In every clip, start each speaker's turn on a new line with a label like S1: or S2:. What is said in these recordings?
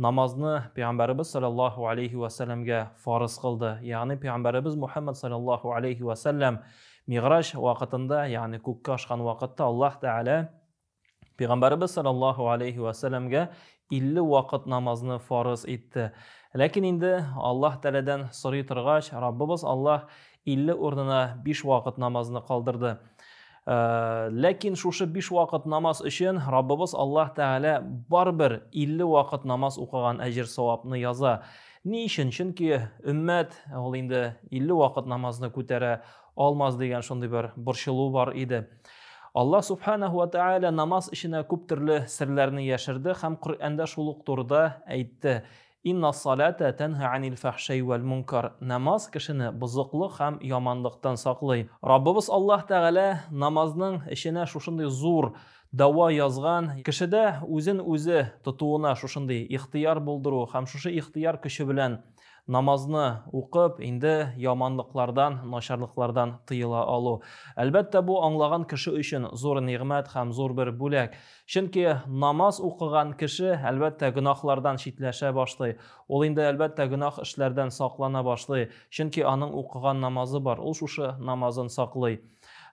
S1: Намазны Пәйгамбәребез салләллаһу галәйһи вә сәлләмгә фарыз кылды. Ягъни Пәйгамбәребез Мухәммәд салләллаһу галәйһи вә сәлләм Мигъраҗ вакытында, ягъни күккә ашкан вакытта Аллаһ Тәгалә Пәйгамбәребез салләллаһу галәйһи вә сәлләмгә 50 вакыт намазны фарыз итте. Ләкин инде Аллаһ Тәгаләдән сорый торгач, Раббыбыз Аллаһ 50 урынына биш вакыт намазны калдырды. Ә, ләкин шушы биш вакыт намаз өчен Раббыбыз Аллаһ Тәгалә барыбер 50 вакыт намаз укыган әҗер савапны яза. Ни өчен? Чөнки өммәт ул инде 50 вакыт намазны күтәрә алмас дигән шундый бер борчылу бар иде. Аллаһ Субханәһу ва Тәгалә намаз эченә күп төрле серләрне яшерде һәм Коръәндә шул ук турыда әйтте. Иннас-салата тәнһа анил-фәхшәй вәл-мөнкар, намаз кешене бозыклык һәм яманлыктан саклый. Раббыбыз Аллаһ Тәгалә намазның эченә шушындый зур дәва язган, кешедә үзен үзе тотуына шушындый ихтыяр булдыру һәм шушы ихтыяр көче белән намазны укып, инде яманлыклардан, начарлыклардан тыела алу. Әлбәттә, бу аңлаган кеше өчен зур нигъмәт һәм зур бер бүләк. Чөнки намаз укыган кеше, әлбәттә, гөнаһлардан читләшә башлый. Ул инде, әлбәттә, гөнаһ эшләрдән саклана башлый, чөнки аның укыган намазы бар, ул шушы намазын саклый.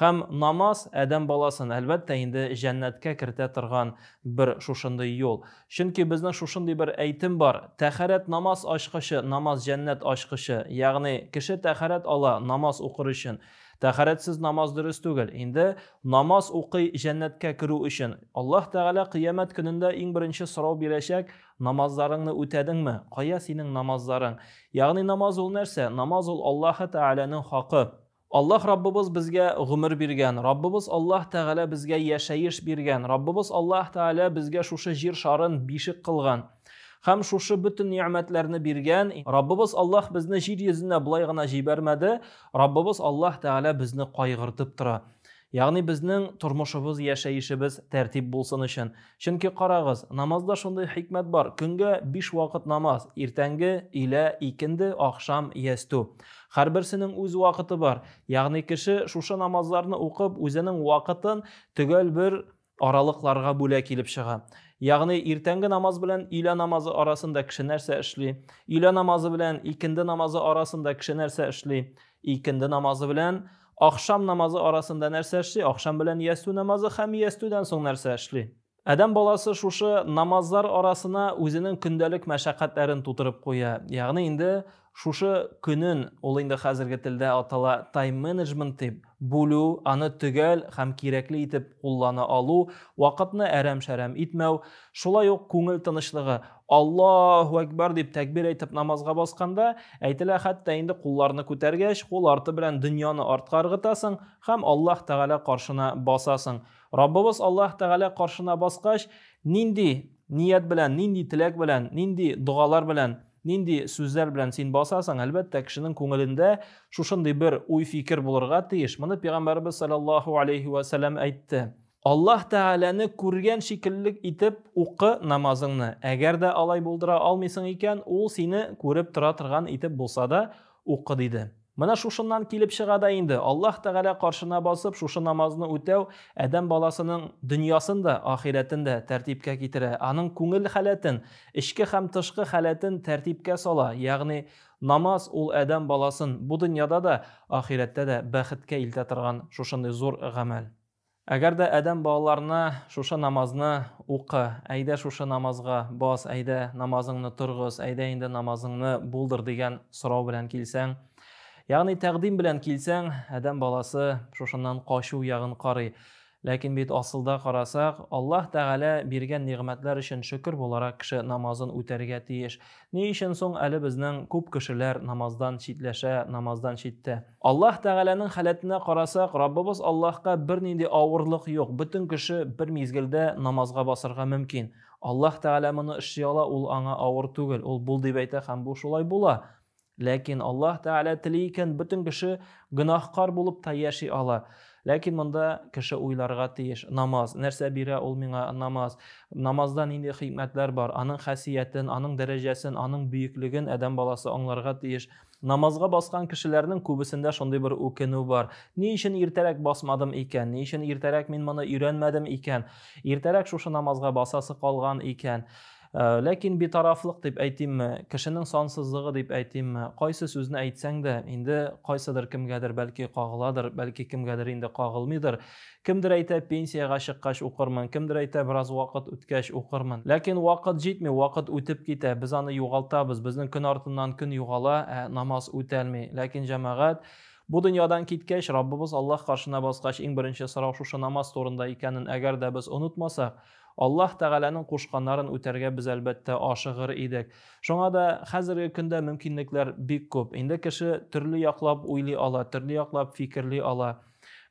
S1: Һәм намаз адәм баласын, әлбәттә, инде җәннәткә кертә торган бер шушындый юл. Чөнки безнең шушындый бер әйтем бар, Тәхәрәт намаз ачкычы, намаз җәннәт ачкычы. Ягъни, кеше тәхәрәт ала намаз укыр өчен, Тәхарәтсез намаз дөрес түгел. Инде намаз укый җәннәткә керү өчен. Аллаһ Тәгалә кыямәт көнендә иң беренче сорау бирәчәк, намазларыңны үтәдеңме? Кая синең намазларың? Ягъни намаз ул нәрсә? Намаз ул Аллаһы Тәгаләнең хакы. Аллаһ Раббыбыз безгә гомер биргән, Раббыбыз Аллаһ Тәгалә безгә яшәеш биргән, Раббыбыз Аллаһ Тәгалә безгә шушы җир шарын бишек кылган. Һәм шушы бөтен ни'мәтләрне биргән Раббыбыз Аллаһ безне җир йөзенә болай гына җибәрмәде, Раббыбыз Аллаһ Тәгалә безне кайгыртып тора. Ягъни безнең тормышыбыз, яшәешебез тәртип булсын өчен. Чөнки карагыз, намазда шундый хикмәт бар. Көнгә 5 вакыт намаз, иртәнге, илә, икенде, ахшам, ястү. Һәрберсенең үз вакыты бар. Ягъни кеше шушы намазларны укып, үзенең вакытын төгәл бер аралыкларга бүлә килеп чыга. Ягъни иртәнге намаз белән өйлә намазы арасында кеше нәрсә эшли? Өйлә намазы белән икенде намазы арасында кеше нәрсә эшли? Икенде намазы белән ахшам намазы арасында нәрсә эшли? Ахшам белән ястү намазы һәм ястүдән соң нәрсә эшли? Адәм баласы шушы намазлар арасына үзенең көндәлек мәшәкатьләрен тутырып куя. Ягъни инде шушы көнен ул инде хәзерге телдә атала тайм-менеджмент дип, бүлү, аны төгәл һәм кирәкле итеп куллана алу, вакытны әрәм-шәрәм итмәү, шулай ук күңел тынычлыгы. Аллаһу әкбар дип тәкбир әйтеп намазга басканда, әйтелә, хәтта инде кулларны күтәргәч, кул арты белән дөньяны артка ыргытасың һәм Аллаһ Тәгалә каршына басасың. Раббыбыз Аллаһ Тәгалә каршына баскач, нинди ният белән, нинди теләк белән, нинди догалар белән Нинди сүзләр белән син басасың? Әлбәттә, кешенең күңелендә шушындый бер уй-фикер булырга тиеш. Моны пәйгамбәрбез саллаллаһу алейһи ва сәлләм әйтте. Аллаһ Тәгаләне күргән шикелле итеп укы намазыңны. Әгәр дә алай булдыра алмыйсың икән, ул сине күреп тора торган итеп булса да укы, диде. Менә шушыннан килеп чыга да инде, Аллаһ Тәгалә каршына басып, шушы намазны үтәү адәм баласының дөньясын да, ахирәтен дә тәртипкә китерә, аның күңел халәтен, эчке һәм тышкы халәтен тәртипкә сала, ягъни намаз ул адәм баласын бу дөньяда да, ахирәттә дә бәхеткә илтә торган шушындый зур гамәл. Әгәр дә адәм балаларына шушы намазны укы, әйдә шушы намазга бас, әйдә намазыңны торгыз, әйдә инде намазыңны булдыр дигән сорау белән килсәң, ягъни тәкъдим белән килсәң, адәм баласы шушыннан качу ягын карый. Ләкин бит асылда карасак, Аллаһ Тәгалә биргән нигъмәтләр өчен шөкер буларак кеше намазын үтәргә тиеш. Ни өчен соң әле безнең күп кешеләр намаздан читләшә, намаздан читтә? Аллаһ Тәгаләнең халәтенә карасак, Раббыбыз Аллаһка бернинди авырлык юк, бөтен кеше бер мизгелдә намазга басарга мөмкин. Аллаһ Тәгалә моны эшли ала, ул аңа авыр түгел, ул бул дип әйтә һәм бу шулай була. Ләкин Аллаһ Тәгалә тели икән, бөтен кеше гөнаһкар булып та яши ала. Ләкин монда кеше уйларга тиеш, намаз, нәрсә бирә ул миңа намаз, намазда нинди хикмәтләр бар, аның хәсиятен, аның дәрәҗәсен, аның бөеклеген адәм баласы аңларга тиеш. Намазга баскан кешеләрнең күбесендә шундый бер үкенү бар. Ни өчен иртәрәк басмадым икән? Ни өчен иртәрәк мин моны өйрәнмәдем икән? Иртәрәк шушы намазга басасы калган икән? Э, ләкин битарафлык дип әйтимме, кешенең сансызлыгы дип әйтимме, кайсы сүзне әйтсәң дә, инде кайсыдыр кемгәдер бәлки кагыладыр, бәлки кемгәдер инде кагылмыйдыр. Кемдер әйтә, пенсиягә чыккач укырмын, кемдер әйтә, бераз вакыт үткәч укырмын. Ләкин вакыт җитми, вакыт үтеп китә, без аны югалтабыз, безнең көн артыннан көн югала, ә намаз үтәлми. Ләкин җәмәгать Бу дөньядан киткәч, Раббыбыз Аллаһ каршына баскач, иң беренче сорау шушы намаз турында икәнен әгәр дә без онытмасак, Аллаһ Тәгаләнең кушканнарын үтәргә без, әлбәттә, ашыгыр идек. Шуңа да хәзерге көндә мөмкинлекләр бик күп. Инде кеше төрле яклап уйлый ала, төрле яклап фикерли ала.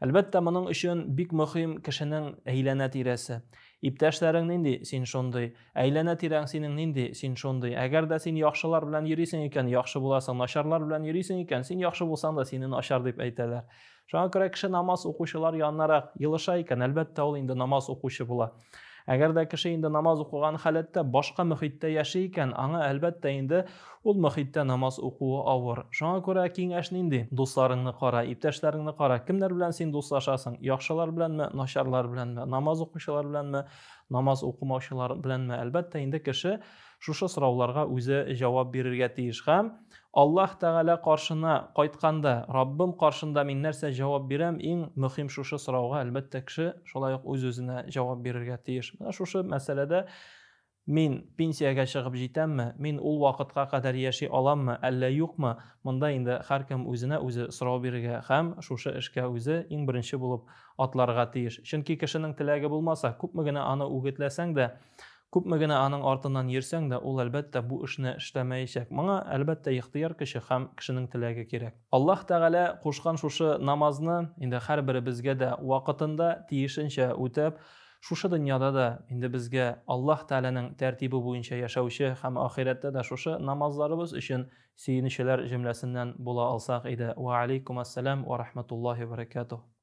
S1: Әлбәттә, моның өчен бик мөһим кешенең әйләнә-тирәсе. Иптәшләрең нинди, син шундый. Әйләнә-тирәң синең нинди, син шундый. Әгәр дә син яхшылар белән йөрисең икән, яхшы буласың, начарлар белән йөрисең икән, син яхшы булсаң да, сине начар дип әйтәләр. Шуңа күрә кеше намаз укучылар яннарак елыша икән, әлбәттә, ул инде намаз укучы була. Әгәр дә кеше инде намаз укыган халәттә башка мөхиттә яши икән, аңа әлбәттә инде ул мөхиттә намаз укуы авыр. Шуңа күрә киңәш нинди? Дусларыңны кара, иптәшләреңне кара. Кемнәр белән син дуслашасың? Яхшылар беләнме, начарлар беләнме? Намаз укучылар беләнме, намаз укымаучылар беләнме? Әлбәттә инде кеше Шушы сорауларга үзе җавап бирергә тиеш һәм Аллаһ Тәгалә каршына кайтканда, Раббым каршында мин нәрсә җавап бирәм, иң мөхим шушы сорауга, әлбәттә, кеше шулай ук үз-үзенә җавап бирергә тиеш. Менә шушы мәсьәләдә мин пенсиягә чыгып җитәмме, мин ул вакытка кадәр яши аламмы, әллә юкмы, монда инде һәркем үзенә үзе сорау бирергә һәм шушы эшкә үзе иң беренче булып атларга тиеш. Чөнки кешенең теләге булмаса, күпме генә аны үгетләсәң дә, Күпме генә аның артыннан йөрсәң дә, ул, әлбәттә, бу эшне эшләмәячәк. Моңа, әлбәттә, ихтыяр көче һәм кешенең теләге кирәк. Аллаһ Тәгалә кушкан шушы намазны инде һәрберебезгә дә вакытында, тиешенчә үтәп, шушы дөньяда да инде безгә Аллаһ Тәгаләнең тәртибе буенча яшәүче һәм ахирәттә дә шушы намазларыбыз өчен сөенүчеләр җөмләсеннән була алсак иде. Вә алейкумәссәлам вә рахмәтуллаһи вә бәрәкәтүһ.